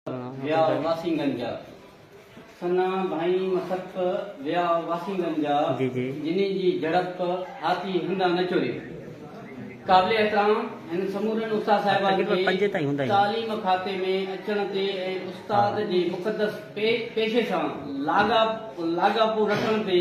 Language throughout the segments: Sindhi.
ويا واسينگن جا سنا ڀائين مسپ ويا واسينگن جا جنين جي جھڙپ هاتي هندا نه چوري قابل احترام هن سمورن استاد صاحبان کي تعليم کاتي ۾ اچڻ تي ۽ استاد جي مقدس پيشي سان لاڳاپو رکڻ تي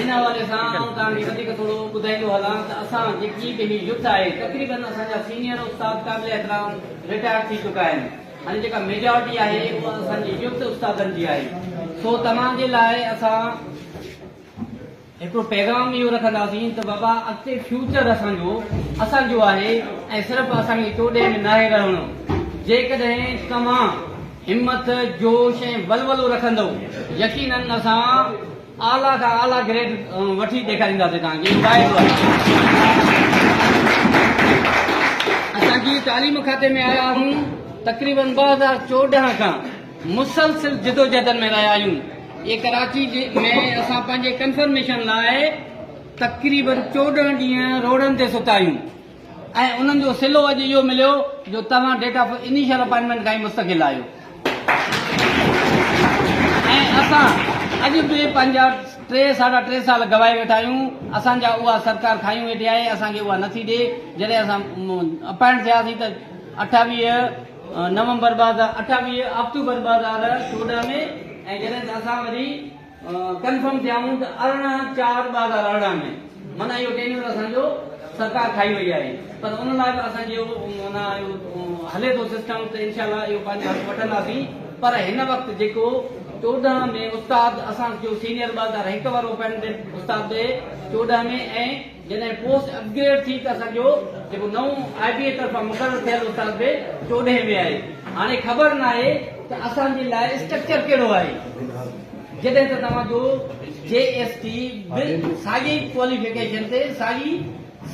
ان حوالي سان آئون توهان کي وڌيڪ ٿورو ٻڌائيندو هلان ته اسان جيڪي به هي يوٿ آهي تقريبن اسان جا سينيئر استاد قابل احترام رٽائر ٿي چڪا آهن هاڻي جيڪا ميجارٽي آهي اها اسان جي يوٿ استادن جي آهي سو توهان جي لاء اسان هڪڙو پيغام اهو رکنداسين ته بابا اڳتي فيوچر اسان جو اسان جو آهي ۽ صرف اسان کي چوڏهين ۾ ناهي رهڻو جيڪڏهن توهان همٿ جوش ۽ ولولو رکندو يقينن اسان اعليٰ کان اعليٰ گريڊ وٺي ڏيکارينداسين توهان کي اميد آهي. اسان جي تعليم کاتي ۾ آيا آهيون تقريبن ٻه هزار چوڏهن کان مسلسل جدوجهدن ۾ رهيا آهيون اي ڪراچي ۾ اسان پنهنجي ڪنفرميشن لاء تقريبن چوڏهن ڏينهن روڊن تي ستا آهيون ۽ انهن جو صلو اڄ اهو مليو جو توهان ڊيٽ آف انيشل اپائنٽمينٽ کان ئي مستقل آهيو ۽ اسان اڄ به پنهنجا ٽي ساڍا ٽي سال گوائي ويٺا آهيون اسان جا اها سرڪار کايون ويٺي آهي اسان کي اها نٿي ڏي جڏهن اسان اپائنٽ ٿياسين ته اٺاويهه نومبر ٻه هزار اٺاويهه آڪٽوبر ٻه هزار چوڏهن ۾ ۽ جڏهن ته اسان وري ڪنفرم ٿيائون ته ارڙهن چار ٻه هزار ارڙهن ۾ معنيٰ اهو ٽينيور اسان جو سرڪار کائي وئي آهي پر ان لاء به اسان جو معنيٰ هلي ٿو سسٽم ته انشاء الله اهو پنهنجي هٿ وٺنداسين پر هن وقت جيڪو چوڏهن ۾ استاد اسان جو سينيئر ٻه هزار هڪ وارو اپائنٽمينٽ استاد به چوڏهن ۾ ۽ جڏهن پوسٽ اپ گريڊ ٿي ته اسان جو جيڪو نئون آء بي اي طرفان مقرر ٿيل استاد به چوڏهين ۾ آهي. هاڻي خبر ناهي ته اسان جي لاء اسٽرڪچر ڪهڙو آهي. جڏهن ته توهان جو جي ايس ٽي به ساڳئي ڪواليفڪيشن تي ساڳي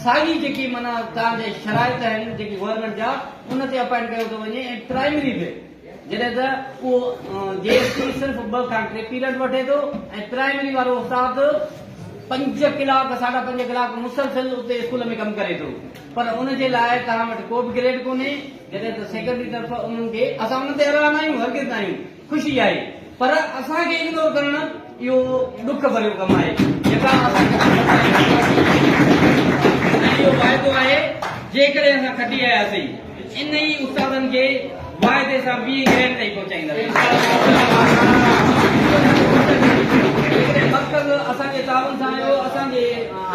ساڳي جيڪي معنيٰ توهان جي شرائط آهن جيڪي گورنمينٽ جا ان تي اپائنٽ ڪيو ٿو وڃي ۽ پرائمري به جڏهن ته اهو جي ايس سي صرف ٻه کان ٽي پيريڊ وٺي ٿو ۽ پرائمري وارو استاد پنج ڪلاڪ ساڍا پنج ڪلاڪ مسلسل اتي اسڪول ۾ ڪم ڪري ٿو پر ان جي لاء توهان وٽ ڪو به گريڊ ڪونهي جڏهن ته سيڪريٽري طرف انهن کي اسان ان تي حيران آهيون هرگز ناهيون خوشي آهي پر اسان کي اگنور ڪرڻ اهو ڏک ڀريو ڪم آهي جيڪا اسان کي سمجهه ۾ آئي ۽ اهو واعدو آهي جيڪڏهن اسان کٽي آياسين انهي استادن کي واعدي سان ٻي گرينڊ تائين پهچائينداسين جيڪڏهن مرڪز اسان جي تعاون سان آيو اسان جي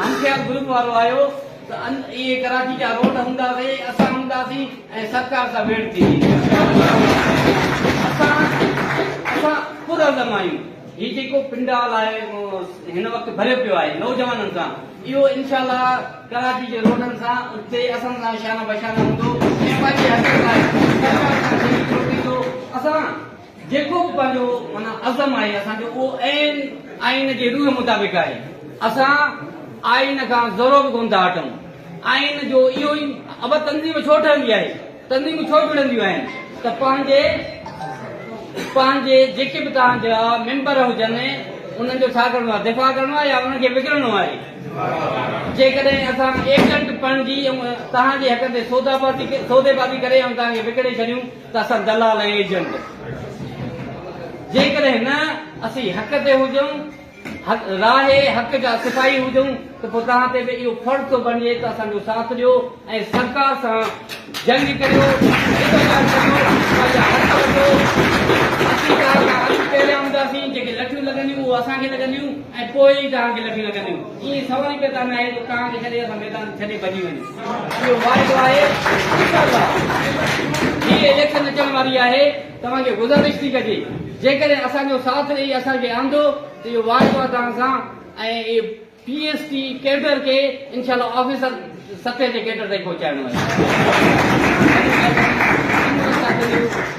همخيال گروپ وارو آيو ته ان اهي ڪراچي جا روڊ هوندا سي اسان هوندا سي ۽ سرڪار سان ويڙهه ٿي ويندي اسان اسان پرعزم آهيون هي جيڪو پنڊال آهي هن وقت ڀريو پيو آهي نوجوانن سان اهو انشاء الله ڪراچي جي روڊن سان اتي اسان سان شانه بشانه هوندو ۽ پنهنجي حق لاء سرڪار سان شريڪ ٿيندو اسان جيڪو به پنهنجو معنيٰ عزم آهي اسان جو اهو عين آئين جي روح مطابق آهي. اسان آئين کان ذرو به ڪونه ٿا هٽون. آئين جو اهو ئي ابا تنظيم ڇو ٺهندي آهي، تنظيمون ڇو جڙنديون آهن ته پنهنجي پنهنجي جيڪي به توهان جا ميمبر هجن انهن جو ڇا ڪرڻو آهي دفاع ڪرڻو آهي يا انهن کي وگڙڻو آهي. جيڪڏهن اسان ايجنٽ بڻجي توهان جي حقن تي سودابازي سوديبازي ڪري ۽ توهان کي وڪڙي ڇڏيون ته اسان دلال ۽ ايجنٽ. جيڪڏهن نه اسين حق تي هجون، راهي حق جا سپاهي هجون ته پوء توهان تي به اهو فرض ٿو بڻجي ته اسان جو ساٿ ڏيو ۽ سرڪار سان جنگ ڪريو، جدوجهد ڪريو، پنهنجا حق وٺو. اسين توهان کان اڳ پهريان هونداسين، جيڪي لٺيون لڳنديون اهو اسان کي لڳنديون ۽ پوء ئي توهان کي لٺيون لڳنديون. ائين سوال ئي پيدا نه آهي ته توهان کي ڇڏي اسان ميدان ڇڏي ڀڄي وڃون. اهو واعدو آهي انشاءالله هي اليڪشن اچڻ واري آهي توهان کي گذارش ٿي ڪجي جيڪڏهن اسان جو ساٿ ڏئي اسان کي آندو ته اهو واعدو آهي توهان سان ۽ پي ايس ٽي ڪيڊر کي انشاءالله آفيسر سطح جي ڪيڊر تائين پهچائڻو آهي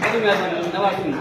وڏي مهرباني نواز شريف